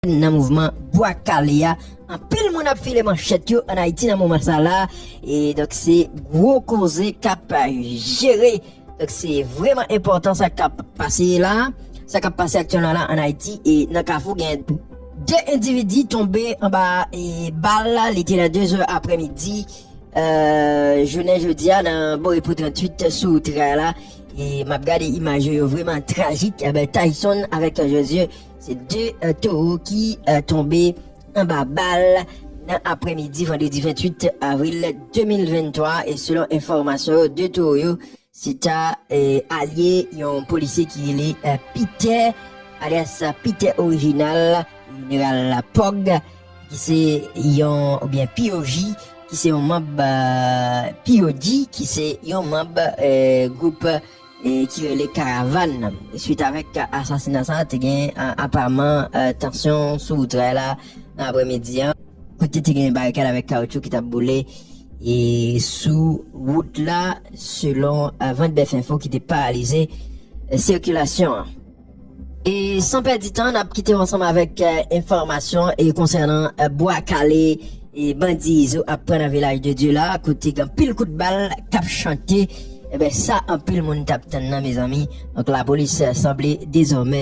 nan mouvman bwa kale a anpil moun ap file manchèt yo an Ayiti nan moman sa la e donk se gwo koze k ap jere donk se vreman enpòtan sa k ap pase la sa k ap pase aktyèlman la an Ayiti e nan kafou gen 2 endividi tonbe anba bal li te nan 2 zè aprè midi jounen jodi a nan borepo 38 sou wout ray la e m ap gade imaj yo yo vreman trajik Tayson avèk Jozye Se 2 towo ki tonbe anba bal nan aprè midi vandredi 28 avril 2023 e selon enfòmasyon yo 2 towo yo se ta alye yon polisye ki rele Pitè alyas Pitè orijinal jeneral Pòg ki se yon oubyen POJ ki se yon manb POD ki se yon manb gwoup. e ki rele Karavan nan. Swit avèk asasina sa a, te gen apaman tansyon sou wout ray la nan aprè midi an, kote te gen barikad avèk kawoutchou ki t ap boule e sou wout la selon Ventbef Info ki te paralize sikilasyon an. E san pèdi tan nap kite w ansanm avèk enfòmasyon e konsènan bwa kale e bandi izo ap pran nan vilaj de Dye la kote gen pil kout bal kap chante ebyen sa anpil moun tap tann nan mezanmi donk lapolis sanble dezòmè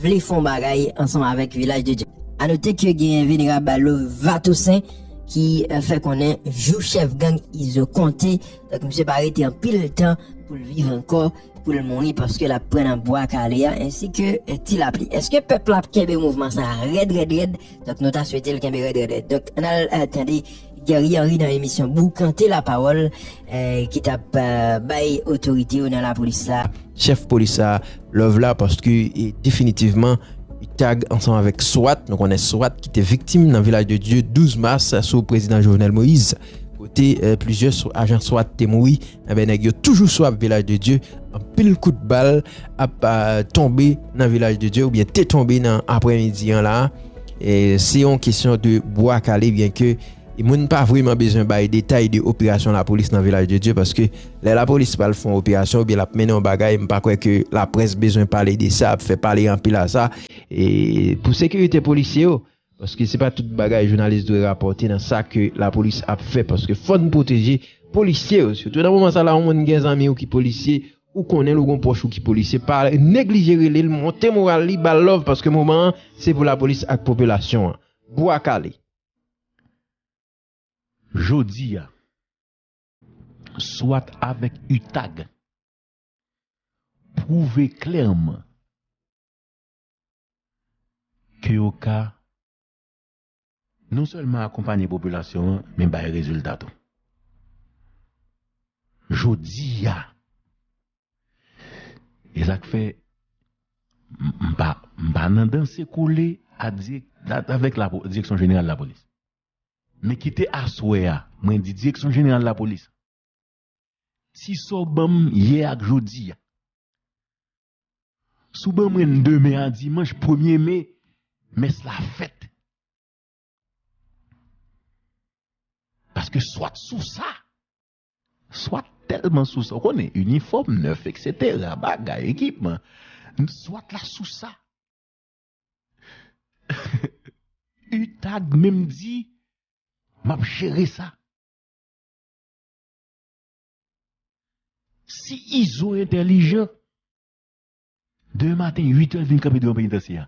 vle fon bagay ansanm avèk vilaj de Dye. Anote ke gen venerab Lova Toussaint ki fè konnen jou chèf gang izo konte donk misye pa rete anpil tan poul viv ankò. pou l mouri paske l ap pran nan Bwa Kale a ensi ke Ti Lapli. Eske pèp la ap kenbe mouvman sa a rèd rèd rèd? Donk nou ta swete l kenbe rèd rèd rèd. Donk ann al tande Guerrier Henry nan emisyon Boukante Lapawòl ki t ap bay otorite yo nan Lapolis la. Chèf polis sa a love la paske definitivman Utag ansanm avèk swat, nou konnen swat ki te viktim nan Vilaj de Dye 12 mas sou Prezidan Jovenel Moïse. kote plizyè sou ajan swat te mouri enben nèg yo toujou sou ap vilaj de Dye anpil kout bal ap tonbe nan vilaj de Dye oubyen te tonbe nan aprè midi an la se yon kesyon de bwa kale byen ke moun pa vreman bezwen bay detay de operasyon la polis nan vilaj de Dye paske lè la polis pral fon operasyon oubyen lap mennen yon bagay m pa kwè ke la près bezwen pale de sa ap fè pale anpil a sa e pou sekirite polisye yo. Paske se pa tout bagay jounalis dwe rapòte nan sa ke lapolis ap fè paske fòn pwoteje polisye yo sitou nan moman sa la yon moun gen zanmiw ki polisye ou konnenl ou gon pwòch ou ki polisye pa neglije relel monte moral li bal love paske moman an se pou lapolis ak popilasyon an bwa kale. Jodia swat avèk utag pwouve klèman ke yo ka non sèlman akonpanye popilasyon an men bay rezilta tou. Jodi a, e sa k fè m pa m pa nan danse kole a dirèk avèk direksyon jeneral lapolis men kite aswè a mwen di direksyon jeneral lapolis si sa w ban m yè ak jodi a Sou ban mwen demen a dimanch premye me, mès la fèt. Paske swat sou sa, swat tèlman sou sa, ou konnen, inifòm nèf, eksetera, bagay, ekipman, swat la sou sa. Utag menm di, m ap jere sa. Si izo entèlijan, demen maten 8 èl vin kanpe devan penitansye a.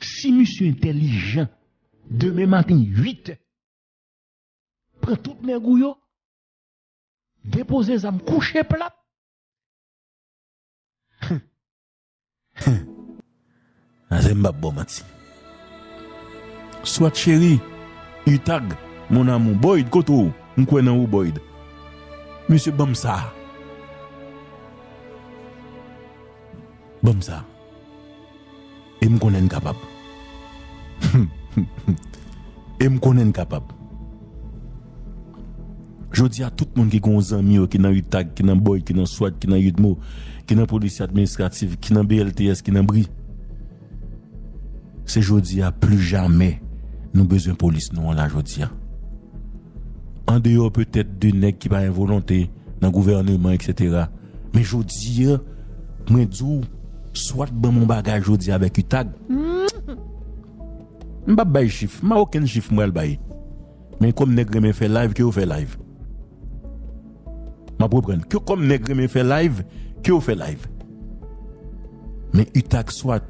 Si misye entèlijan, demen maten 8 èl, pran tout nèg ou yo, depoze zam kouche plat. Azè m pap baw manti. Swat cheri, utag, mon amour, boyd kote ou? M kwè nan ou boyd. Mesye banm sa. Banm sa. E m konnen n kapab. E m konnen n kapab. Jodi a tout moun ki gen yon zanmi yo ki nan utag, ki nan boy, ki nan swat, ki nan udmo, ki nan polisye administratif, ki nan BLTS, ki nan bri. Se jodi a pli jamè nou bezwen polis nou an la jodi a. Andeyò petèt de nèg ki pa gen volonte nan gouvèneman eksetera men jodi a mwen di w swat ban m yon bagay jodi a avèk utag m pap bay chif m pa okenn chif m pral bay. Men kòm nèg renmen fè live ke yo fè live. Map reprann, ke kòm nèg renmen fè live ke yo fè live. Men utag swat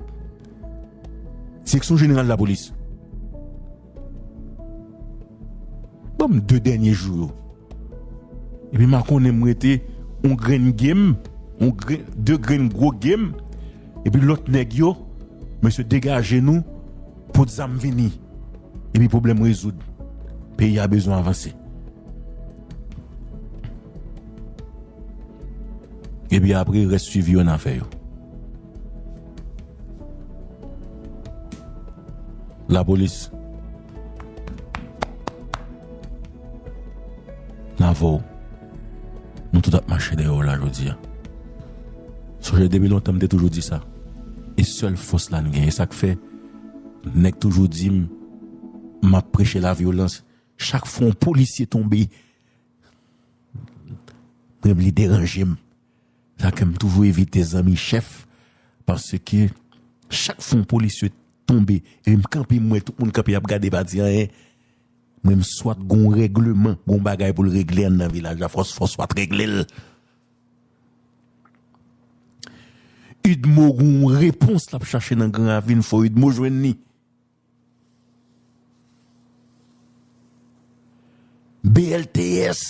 seksyon jeneral lapolis. Banm 2 dènye jou yo. Epi ma konnen m rete yon grenn game, yon grenn, 2 grenn gwo game. Epi lòt nèg yo, mesye degaje nou pot zam vini epi pwoblèm rezoud. Peyi a bezwen avanse. Epi apre rès swivi yo nan fè yo. Lapolis. Nan vow. Nou tout ap mache dèyè w la jodi a. Sonje depi lontan m te toujou di sa, e sèl fòs la n gen. E sa k fè nèg toujou di m m ap preche lavyolans. Chak fwa yon polisye tonbe, menm li deranje m. Se sa k fè m toujou evite zanmi chèf, paske chak fwa yon polisye tonbe, epi m kanpe m wè tout moun kanpe y ap gade pa di anyen. Menm swat gon regleman, gon bagay pou l regle anndan vilaj la fòs fò swat regle l. Udmo gon repons lap chache nan gran ravin fò udmo jwenn li. BLTS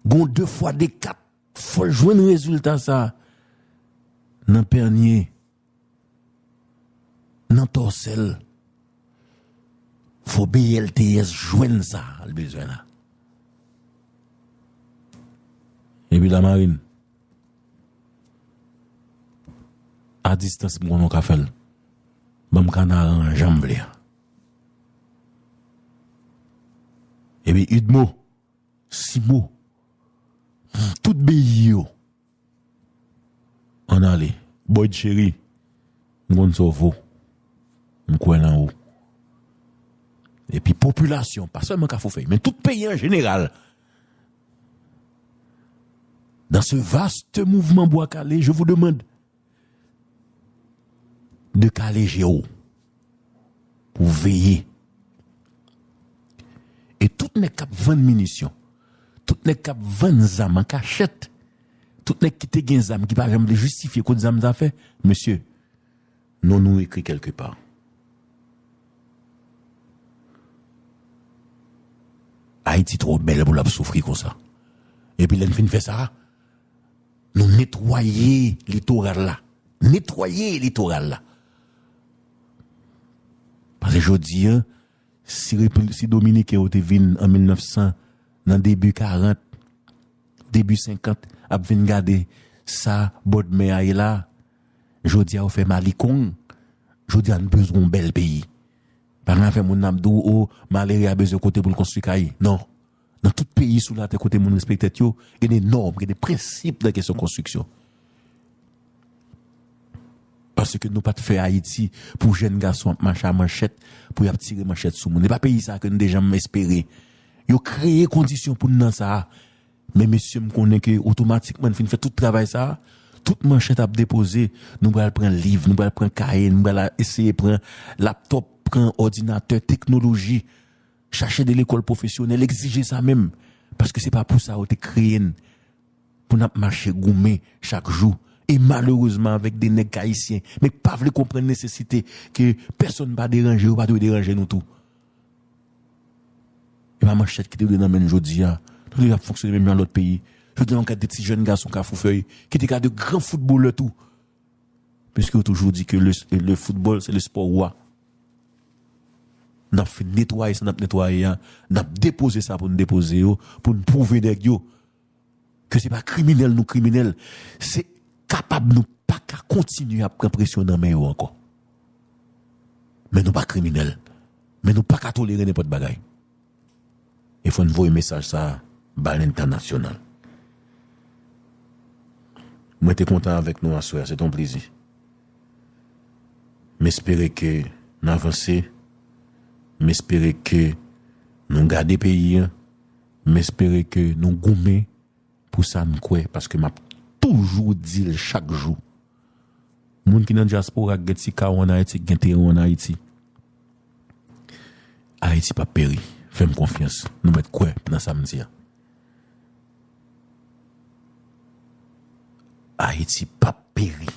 gon de fwa de kat fò l jwenn rezilta sa nan pènye. Nan tòsèl fò BLTS jwenn sa l bezwen la. Epi Lamarin a distans m konnen w ka fè l. Banm kanaran an janm vle an. Epi Udmo, Simo, tout beyi yo Ann ale. Boyd cheri, m konn sa w vo. M kwè nan ou. Epi popilasyon, pa sèlman Kafoufèy, men tout peyi an jeneral, dans ce vaste mouvement Bwa Kale, je vous demande, de kale je w pou veye e tout nèg k ap vann minisyon, tout nèg k ap vann zam an kachèt, tout nèg ki te gen zam ki pa janm vle jistifye kot zam sa fè, mesye non nou ekri kèlke pa. Ayiti twò bèl pou l ap soufri konsa. Epi lè n fin fè sa, Nou netwaye litoral la. Netwaye litoral la. Pase jodi an, si repil, si dominiken yo te vin an 1900, nan debi 40, debi 50, ap vin gade sa bòdmè a ye la, jodi a yo fè malikong, jodi a n bezwen yon bèl peyi. Pa gen afè moun nan ap di w, o, malere a bezwen kote pou l konstwi kay. Non. Nan tout peyi sou latè kote moun respekte tèt yo, gen de nòm, gen de prensip nan kesyon konstriksyon. Paske nou pat fè Ayiti pou jèn gason ap mache a manchèt, pou y ap tire manchèt sou moun. E pa peyi sa a ke nou te janm espere. Yo kreye kondisyon pou n nan sa a. Men mesye m konnen ke otomatikman n fin fè tout travay sa a, tout manchèt ap depoze, nou pral pran liv, nou pral pran kaye, nou pral eseye pran laptop, pran òdinatè, teknoloji. Chache de lekòl pwofesyonèl egzije sa menm paske se pa pou sa yo te kreye n pou n ap mache goumen chak jou e malerezman avèk de nèg k ayisyen men k pa vle konprann nesesite ke pèsonn pa deranje yo pa dwe deranje nou tou e pa manchèt ki te dwe nan men n jodi a nou te dwe ap fonksyone menm jan lòt peyi jodi a nou gad de ti jèn gason kafoufèy ki te ka de gran foutbolè tou Piske yo toujou di ke le football se le sport roi. Nap fin netwaye sa nap netwaye a, nap depoze sa poun depoze yo, poun pwouve nèg yo ke se pa kriminèl nou kriminèl, se kapab nou pa ka kontinye ap pran presyon nan men yo ankò. Men nou pa kriminèl, men nou pa ka tolere nenpòt bagay. E fò n voye mesaj sa a ba lentanasyonal. Mwen te kontan avèk nou aswè a, se te yon plezi. M espere ke n avanse, m espere ke nou gade peyi an, m espere ke nou goumen. Pou sa m kwè paske m ap toujou di l chak jou. Moun ki nan dyaspora k gen ti ka w ann Ayiti, k gen teren w ann Ayiti. Ayiti p ap peri. Fè m konfyans. Nou mèt kwè nan sa m di a. Ayiti p ap peri.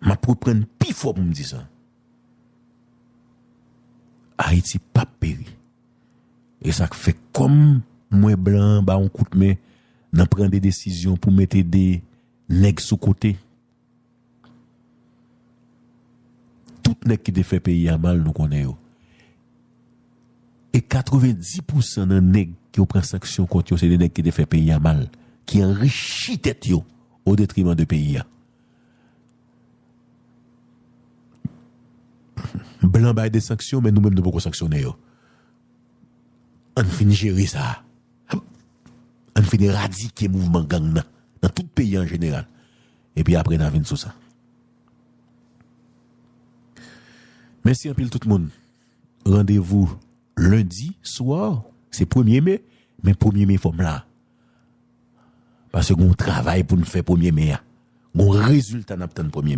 M ap reprann pi fò pou m di sa. Ayiti p ap peri. E sa k fè kòm m wè blan an ba yon kout men nan pran de desizyon pou mete de nèg sou kote. Tout nèg ki te fè peyi a mal nou konnen yo. E 90 pou san nan nèg ke yo pran sanksyon kont yo se de nèg ki te fè peyi a mal, ki anrichi tèt yo o detriman de peyi a. Blan bay de sanksyon men nou menm nou poko sanksyone yo. Ann fin jere sa. Ann fin eradike mouvman gang nan nan tout peyi an jeneral. Epi apre na vin sou sa. Mèsi anpil tout moun. Randevou lendi swa se premye me men premye me fòm la. Pase gon travay poun fè premye me a. Gon rezilta nap tann premye me.